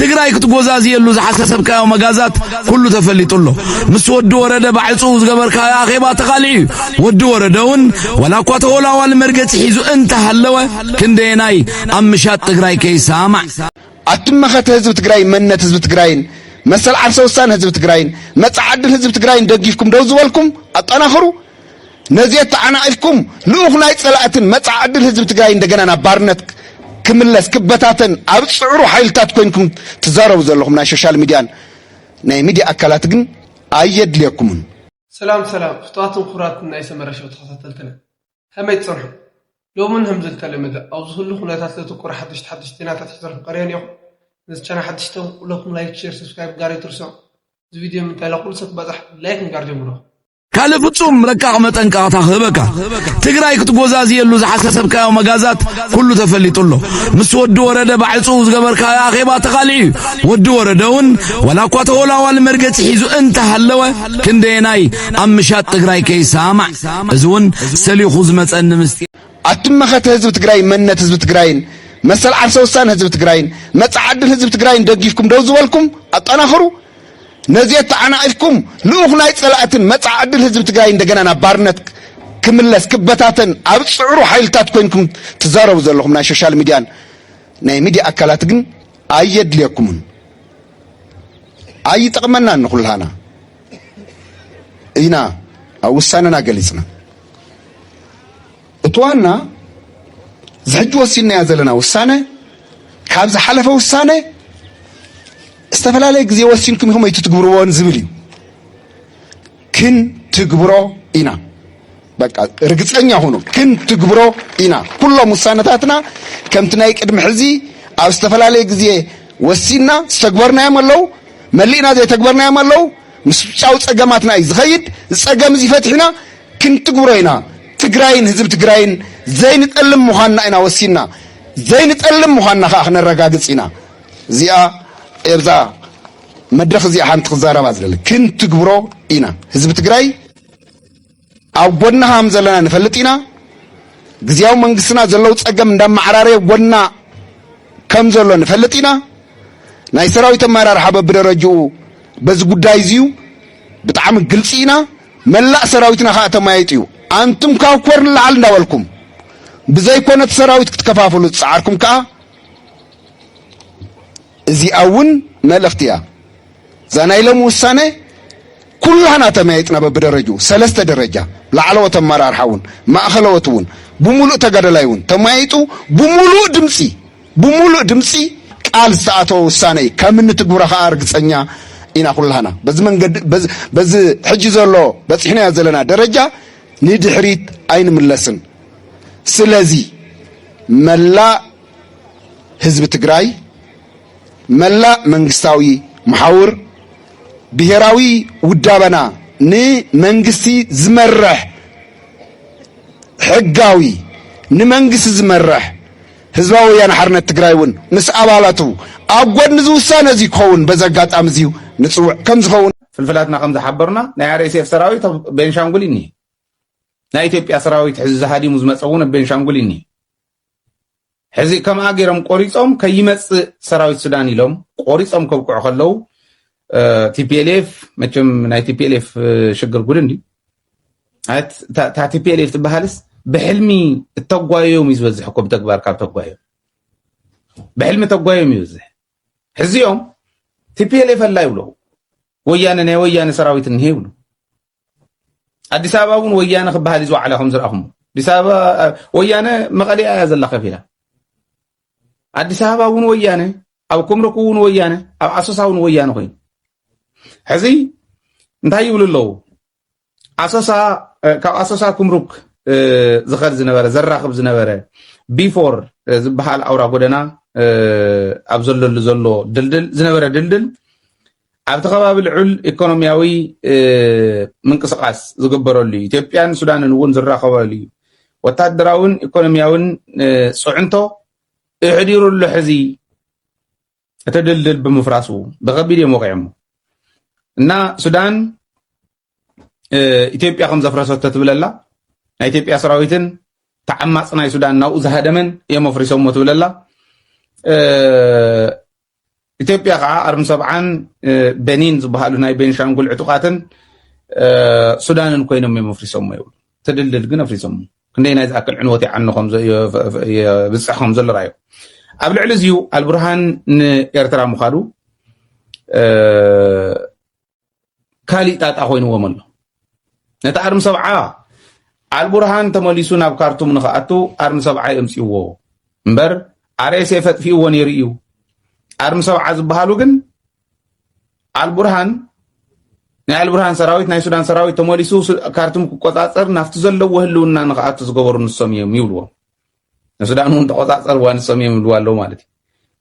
ትግራይ ክትጎዛዝየሉ ዝሓሰሰብካዮ መጋዛት ኩሉ ተፈሊጡ ኣሎ ምስ ወዲ ወረደ ባዕፁ ዝገበርካዮ ኣኼባ ተቓልዒ እዩ ወዲ ወረደ እውን ዋላ እኳ ተወላዋሊ መርገፂ ሒዙ እንተሃለወ ክንደየናይ ኣብ ምሻጥ ትግራይ ከይሰማዕ ኣትመኸተ ህዝቢ ትግራይ መንነት ህዝቢ ትግራይን መሰል ዓርሰ ውሳነ ህዝቢ ትግራይን መፃ ዓድል ህዝቢ ትግራይን ደጊፍኩም ደው ዝበልኩም ኣጠናኽሩ ነዚ ኣተዓናቒፍኩም ልኡኽ ናይ ጸላእትን መጻኢ ዕድል ህዝቢ ትግራይ እንደገና ናብ ባርነት ክምለስ ክበታተን ኣብ ዝጽዕሩ ሓይልታት ኮይንኩም ትዛረቡ ዘለኹም ናይ ሾሻል ሚድያን ናይ ሚድያ ኣካላት ግን ኣየድልየኩምን። ሰላም ሰላም ፍትዋትን ክቡራትን ናይ ሰመረ ሸው ተኸታተልትና ከመይ ትጸንሑ ሎምን ህም ዝልተለመደ ኣብ ዝህሉ ኩነታት ዘተኮረ ሓደሽቲ ሓደሽቲ ዜናታት ሒዘልኩም ቀርየ ኔኹ ነዚ ቻና ሓደሽቲ ተንኩ ኩለኩም ላይክ ሼር ሰብስክራይብ ጋር ኣይትርስዑ እዚ ቪድዮ ምንታይ ላኩሉ ሰብ ክበጽሕ ላይክ ንጋር ጀምርኹ ካልእ ፍጹም ረቃቕ መጠንቀቕታ ክህበካ ትግራይ ክትጎዛዝየሉ ዝሓሰሰብካዮ መጋዛት ኩሉ ተፈሊጡ ኣሎ ምስ ወዲ ወረደ ባዕፁ ዝገበርካዮ ኣኼባ ተኻልዒ እዩ ወዲ ወረደ እውን ዋላ እኳ ተወላዋሊ መርገፂ ሒዙ እንተሃለወ ክንደየናይ ኣብ ምሻጥ ትግራይ ከይሰማዕ እዚ እውን ሰሊኹ ዝመፀኒ ምስጢ ኣትመኸተ ህዝቢ ትግራይ መንነት ህዝቢ ትግራይን መሰል ዓርሰ ውሳነ ህዝቢ ትግራይን መፃ ዕድል ህዝቢ ትግራይን ደጊፍኩም ደው ዝበልኩም ኣጠናኽሩ ነዚ ኣተዓናቒፍኩም ልኡኽ ናይ ጸላእትን መጻኢ ዕድል ህዝቢ ትግራይ እንደገና ናብ ባርነት ክምለስ ክበታተን ኣብ ዝጽዕሩ ሓይልታት ኮይንኩም ትዛረቡ ዘለኹም ናይ ሶሻል ሚድያን ናይ ሚድያ ኣካላት ግን ኣየድልየኩምን ኣይጠቕመናን ንኹልሃና ኢና ኣብ ውሳነና ገሊጽና እቲ ዋና እዚ ሕጂ ወሲንናዮ ዘለና ውሳነ ካብ ዝሓለፈ ውሳነ ዝተፈላለየ ግዜ ወሲንኩም ኢኹም ኣይትትግብርዎን ዝብል እዩ። ክንትግብሮ ኢና በቃ ርግፀኛ ሁኑ፣ ክንትግብሮ ኢና። ኩሎም ውሳነታትና ከምቲ ናይ ቅድሚ ሕዚ ኣብ ዝተፈላለየ ግዜ ወሲንና ዝተግበርናዮም ኣለው፣ መሊእና ዘይተግበርናዮም ኣለው። ምስ ጫው ፀገማትና እዩ ዝኸይድ። ዝፀገም እዚ ፈትሕና ክንትግብሮ ኢና። ትግራይን ህዝቢ ትግራይን ዘይንጠልም ምዃንና ኢና ወሲንና። ዘይንጠልም ምዃንና ከዓ ክነረጋግፅ ኢና። እዚኣ ኤብዛ መድረኽ እዚኣ ሓንቲ ክዛረባ ዝደሊ ክንትግብሮ ኢና። ህዝቢ ትግራይ ኣብ ጎድና ከም ዘለና ንፈልጥ ኢና። ግዜያዊ መንግስትና ዘለው ፀገም እንዳመዓራረየ ጎድና ከም ዘሎ ንፈልጥ ኢና። ናይ ሰራዊት ኣመራርሓ በብደረጅኡ በዚ ጉዳይ እዚዩ ብጣዕሚ ግልፂ ኢና። መላእ ሰራዊትና ከኣ ተማይጥዩ። ኣንቱም ካብ ኮር ንላዕሊ እንዳበልኩም ብዘይኮነ እቲ ሰራዊት ክትከፋፍሉ ዝጸዓርኩም ከኣ እዚኣ እውን መልእኽቲ እያ። እዛ ናይ ሎሚ ውሳነ ኩላህና ተመያይጥና በብደረጅኡ ሰለስተ ደረጃ ላዕለዎት ኣመራርሓ እውን ማእኸለዎት እውን ብምሉእ ተጋደላይ እውን ተመያይጡ ብምሉእ ድምፂ ብሙሉእ ድምፂ ቃል ዝተኣተወ ውሳነ እዩ ከም እንትግብሮ ከዓ ርግፀኛ ኢና ኩላህና በዚ መንገዲ በዚ ሕጂ ዘሎ በፂሕናዮ ዘለና ደረጃ ንድሕሪት ኣይንምለስን ስለዚ መላእ ህዝቢ ትግራይ መላእ መንግስታዊ መሓውር ብሄራዊ ውዳበና ንመንግስቲ ዝመርሕ ሕጋዊ ንመንግስቲ ዝመርሕ ህዝባዊ ወያነ ሓርነት ትግራይ እውን ምስ ኣባላቱ ኣብ ጐድኒ እዚ ውሳነ እዚ ክኸውን በዚ ኣጋጣሚ እዚ ንጽውዕ ከም ዝኸውን ፍልፍላትና ከም ዝሓበሩና ናይ RSF ሰራዊት ኣብ ቤንሻንጉል እኒ ናይ ኢትዮጵያ ሰራዊት ሕዚ ዝሃዲሙ ዝመፀ እውን ኣብ ቤንሻንጉል እኒ ሕዚ ከምኣ ገይሮም ቆሪፆም ከይመፅእ ሰራዊት ሱዳን ኢሎም ቆሪፆም ከብቅዑ ከለው ቲፒኤልኤፍ መቸም ናይ ቲፒኤልኤፍ ሽግር ጉድ እንዲ እታ ቲፒኤልኤፍ ትበሃልስ ብሕልሚ እተጓዮም እዩ ዝበዝሕ እኮ ብተግባር ካብ ተጓዮም ብሕልሚ ተጓዮም እዩ ዝበዝሕ ሕዚኦም ቲፒኤልኤፍ ኣላ ይብሉ ወያነ ናይ ወያነ ሰራዊት እኒሄ ይብሉ ኣዲስ ኣበባ እውን ወያነ ክበሃል እዩ ዝወዓላ ከም ዝረኣኹም ኣዲስ ኣበባ ወያነ መቐሊያ እያ ዘላ ከፊላ ኣዲስ ኣበባ እውን ወያነ ኣብ ኮምረኩ እውን ወያነ ኣብ ኣሶሳ እውን ወያነ ኮይኑ ሕዚ እንታይ ይብሉ ኣለዉ ኣሶሳ ካብ ኣሶሳ ኩምሩክ ዝኸድ ዝነበረ ዘራኽብ ዝነበረ ቢፎር ዝበሃል ኣውራ ጎደና ኣብ ዘለሉ ዘሎ ድልድል ዝነበረ ድልድል ኣብቲ ከባቢ ልዑል ኢኮኖሚያዊ ምንቅስቃስ ዝግበረሉ እዩ ኢትዮጵያን ሱዳንን እውን ዝራኸበሉ እዩ ወታደራውን ኢኮኖሚያውን ፅዕንቶ እሕዲሩሉ ሕዚ እቲ ድልድል ብምፍራሱ ብከቢድ እዮም ወቂዖሞ እና ሱዳን ኢትዮጵያ ከም ዘፍረሰቶ ትብለላ ናይ ኢትዮጵያ ሰራዊትን ተዓማፅ ናይ ሱዳን ናብኡ ዝሃደመን እዮም ኣፍሪሶሞ ትብለላ ኢትዮጵያ ከዓ ኣርሚ ሰብዓን በኒን ዝበሃሉ ናይ ቤንሻንጉል ዕጡቃትን ሱዳንን ኮይኖም እዮም ኣፍሪሶሞ ይብሉ ትድልድል ግን ኣፍሪሶሞ ክንደይናይ ዝኣክል ዕንወት ይዓኑ የብፅሕ ከም ዘሎ ራዩ ኣብ ልዕሊ እዚዩ ኣልብርሃን ንኤርትራ ምዃዱ ካሊእ ጣጣ ኮይንዎም ኣሎ ነቲ ኣርሚ ሰብዓ ኣልቡርሃን ተመሊሱ ናብ ካርቱም ንክኣቱ ኣርሚ ሰብዓ የምፅዎ እምበር ኣርኤስኤ ፈጥፊእዎ ነይሩ እዩ ኣርሚ ሰብዓ ዝበሃሉ ግን ኣልቡርሃን ናይ ኣልቡርሃን ሰራዊት ናይ ሱዳን ሰራዊት ተመሊሱ ካርቱም ክቆፃፀር ናብቲ ዘለዎ ህልውና ንክኣቱ ዝገበሩ ንሶም እዮም ይብልዎም ንሱዳን እውን ተቆፃፀርዋ ንሶም እዮም ይብልዋ ኣለዉ ማለት እዩ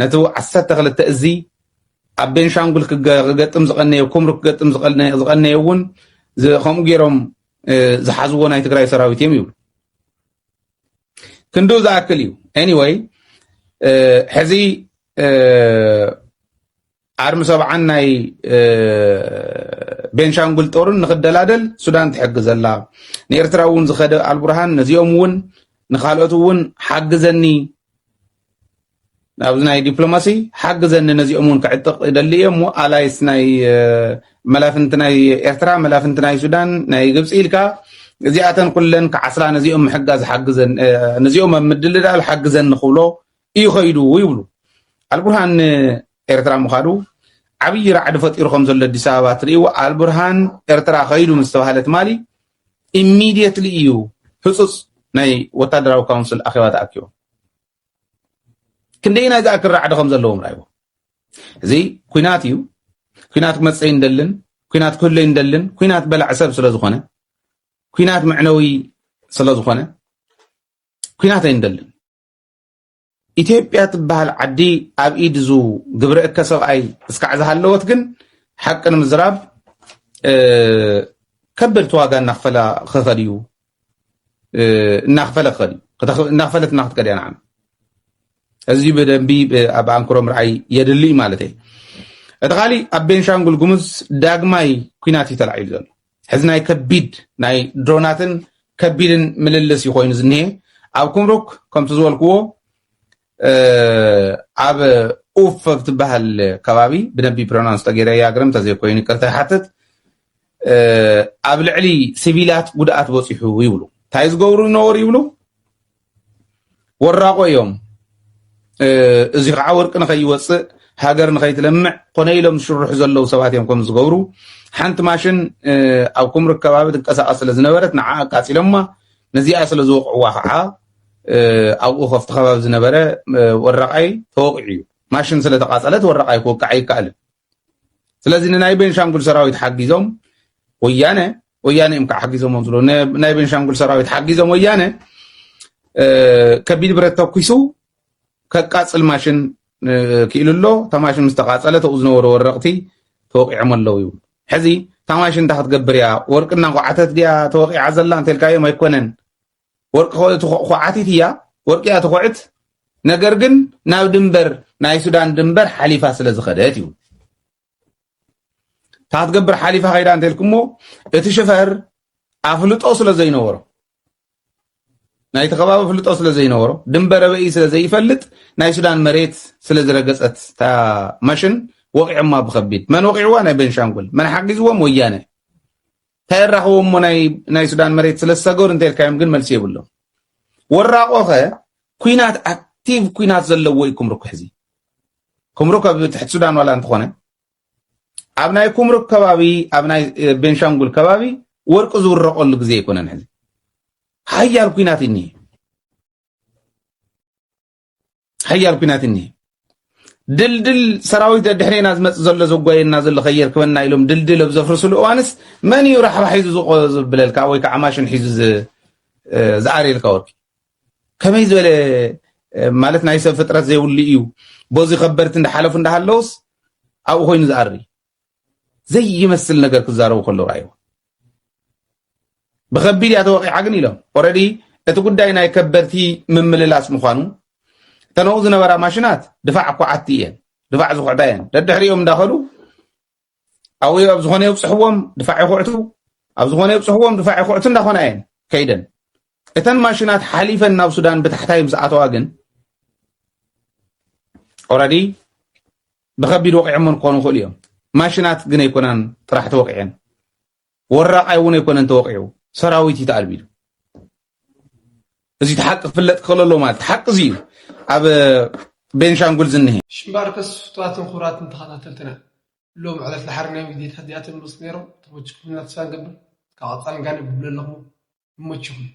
ነቲ ዓሰርተ ክልተ እዚ ኣብ ቤንሻንጉል ክገጥም ዝቀነዮ ኩምሩ ክገጥም ዝቀነዮ እውን ከምኡ ገይሮም ዝሓዝዎ ናይ ትግራይ ሰራዊት እዮም ይብሉ ክንዱ ዝኣክል እዩ ኤኒወይ ሕዚ ኣርሚ ሰብዓን ናይ ቤንሻንጉል ጦርን ንክደላደል ሱዳን ትሕግዘላ ንኤርትራ እውን ዝኸደ ኣልቡርሃን ነዚኦም እውን ንካልኦት እውን ሓግዘኒ ናብዚ ናይ ዲፕሎማሲ ሓግዘኒ ነዚኦም እውን ክዕጥቕ ይደሊ እየ እሞ ኣላይስ ናይ መላፍንቲ ናይ ኤርትራ መላፍንቲ ናይ ሱዳን ናይ ግብፂ ኢልካ እዚኣተን ኩለን ክዓስላ ነዚኦም ምሕጋዝ ሓግዘን ነዚኦም ኣብ ምድልዳል ሓግዘኒ ክብሎ እዩ ከይዱ ይብሉ። ኣልቡርሃን ንኤርትራ ምኻዱ ዓብዪ ራዕዲ ፈጢሩ ከም ዘሎ ኣዲስ ኣበባ ትርእይዎ። ኣልቡርሃን ኤርትራ ከይዱ ምስ ተባህለ ትማሊ ኢሚድየትሊ እዩ ህፁፅ ናይ ወታደራዊ ካውንስል ኣኼባ ተኣኪቦም ክንደይናይ ዝኣክል ራዕዲ ከም ዘለዎም ራይዎ እዚ ኩናት እዩ ኩናት ክመፀይ እንደልን ኩናት ክህለይ እንደልን ኩናት በላዕ ሰብ ስለ ዝኾነ ኩናት መዕነዊ ስለ ዝኾነ ኩናት ኣይንደልን ኢትዮጵያ ትበሃል ዓዲ ኣብ ኢድ እዙ ግብረ እከ ሰብኣይ እስካዕ ዝሃለወት ግን ሓቂ ንምዝራብ ከበድቲ ዋጋ እናኽፈላ ክኸድ እዩ እናኽፈለ ክኸድ እዩ እናኽፈለት እና ክትከድ እያ ንዓና እዚ ብደንቢ ኣብ ኣንክሮ ምርኣይ የድሊ ማለት እዩ እቲ ካሊእ ኣብ ቤንሻንጉል ጉሙዝ ዳግማይ ኩናት እዩ ተላዒሉ ዘሎ ሕዚ ናይ ከቢድ ናይ ድሮናትን ከቢድን ምልልስ እዩ ኮይኑ ዝኒሀ ኣብ ኩምሩክ ከምቲ ዝበልክዎ ኣብ ኡፍ ኣብ ትበሃል ከባቢ ብነቢ ፕሮናንስ ተገይረ ያግርም ተዘይኮይኑ ይቅርታ ይሓትት ኣብ ልዕሊ ሲቪላት ጉድኣት በፂሑ ይብሉ እንታይ ዝገብሩ ይነበሩ ይብሉ ወራቆ እዮም እዚ ከዓ ወርቂ ንከይወፅእ ሃገር ንከይትለምዕ ኮነ ኢሎም ዝሽርሑ ዘለዉ ሰባት እዮም ከም ዝገብሩ ሓንቲ ማሽን ኣብ ኩምሪ ከባቢ ትንቀሳቐስ ስለ ዝነበረት ንዓ ኣቃፂሎማ ነዚኣ ስለ ዝወቕዕዋ ከዓ ኣብኡ ከፍቲ ከባቢ ዝነበረ ወራቃይ ተወቂዑ እዩ ማሽን ስለ ተቃፀለት ወራቃይ ክወቅዓ ይከኣልን ስለዚ ንናይ ቤንሻንጉል ሰራዊት ሓጊዞም ወያነ ወያነ እዮም ከዓ ሓጊዞሞም ዝሎ ናይ ቤንሻንጉል ሰራዊት ሓጊዞም ወያነ ከቢድ ብረት ተኩሱ ከቃፅል ማሽን ክኢሉ ኣሎ እታ ማሽን ምስ ተቃፀለ ተብኡ ዝነበሩ ወረቕቲ ተወቂዖም ኣለዉ ይብሉ ሕዚ እታ ማሽን እንታይ ክትገብር እያ ወርቂ እናኳዓተት ድያ ተወቂዓ ዘላ እንተልካዮም ኣይኮነን ወርቂ ኹዓቲት እያ ወርቂ እያ ትኹዕት ነገር ግን ናብ ድንበር ናይ ሱዳን ድንበር ሓሊፋ ስለ ዝኸደት እዩ እታ ክትገብር ሓሊፋ ከይዳ እንተልኩሞ እቲ ሽፈር ኣፍልጦ ስለ ዘይነበሮ ናይቲ ከባቢ ፍልጦ ስለ ዘይነበሮ ድንበረ በኢ ስለ ዘይፈልጥ ናይ ሱዳን መሬት ስለ ዝረገፀት እታ ማሽን ወቂዖማ ብከቢድ መን ወቂዕዋ ናይ ቤንሻንጉል መን ሓጊዝዎም ወያነ ታይ ኣራክቦም እሞ ናይ ሱዳን መሬት ስለ ዝሰገሩ እንተልካዮም ግን መልሲ የብሎም ወራቆ ከ ኩናት ኣክቲቭ ኩናት ዘለዎ እዩ ኩምሩክ ሕዚ ኩምሩክ ኣብ ትሕቲ ሱዳን ዋላ እንተኾነ ኣብ ናይ ኩምሩክ ከባቢ ኣብ ናይ ቤንሻንጉል ከባቢ ወርቂ ዝውረቀሉ ግዜ ኣይኮነን ሕዚ ሓያል ኩናት እኒ ሓያል ኩናት እኒሀ ድልድል ሰራዊት ደድሕሬና ዝመፅ ዘሎ ዘጓየና ዘሎ ከየርክበና ኢሎም ድልድል ኣብ ዘፍርስሉ እዋንስ መን እዩ ራሕባ ሒዙ ዝቆ ዝብለልካ ወይ ከዓ ማሽን ሒዙ ዝኣርየልካ ወርቂ ከመይ ዝበለ ማለት ናይ ሰብ ፍጥረት ዘይብሉ እዩ በዚ ከበድቲ እንዳሓለፉ እንዳሃለውስ ኣብኡ ኮይኑ ዝኣሪ ዘይመስል ነገር ክዛረቡ ከለዉ ራእይዎ ብከቢድ እያ ተወቂዓ ግን ኢሎም ኦረዲ እቲ ጉዳይ ናይ ከበድቲ ምምልላስ ምዃኑ እተነኡ ዝነበራ ማሽናት ድፋዕ ኳዓቲ እየን ድፋዕ ዝኩዕታ እየን ደድሕሪኦም እንዳኸዱ ኣብኡ ኣብ ዝኾነ የብፅሕዎም ድፋዕ ይኩዕቱ ኣብ ዝኾነ የብፅሕዎም ድፋዕ ይኩዕቱ እንዳኾና እየን ከይደን እተን ማሽናት ሓሊፈን ናብ ሱዳን ብታሕታይ ምስ ኣተዋ ግን ኦረዲ ንከቢድ ወቒዖሞን ክኾኑ ይኽእሉ እዮም። ማሽናት ግን ኣይኮናን ጥራሕ ተወቒዐን። ወራቓይ እውን ኣይኮነን ተወቒዑ። ሰራዊት እዩ ተኣልቢዱ። እዚ ሓቂ ክፍለጥ ክኽእል ኣለዎ ማለት እዩ። ሓቂ እዚ እዩ ኣብ ቤንሻንጉል ዝኒሀ። ሽምባርከስ ፍትዋትን ክቡራትን ተኸታተልትና ሎሚ ዕለት ድሓር ናይ ቪድዮታት እዚኣቶም ዝመጹ ነይሮም ተመችኩምና ተስፋ ንገብር እስካብ ቀጻሊ ጋንብ ንብለልኹም ይመችኹም።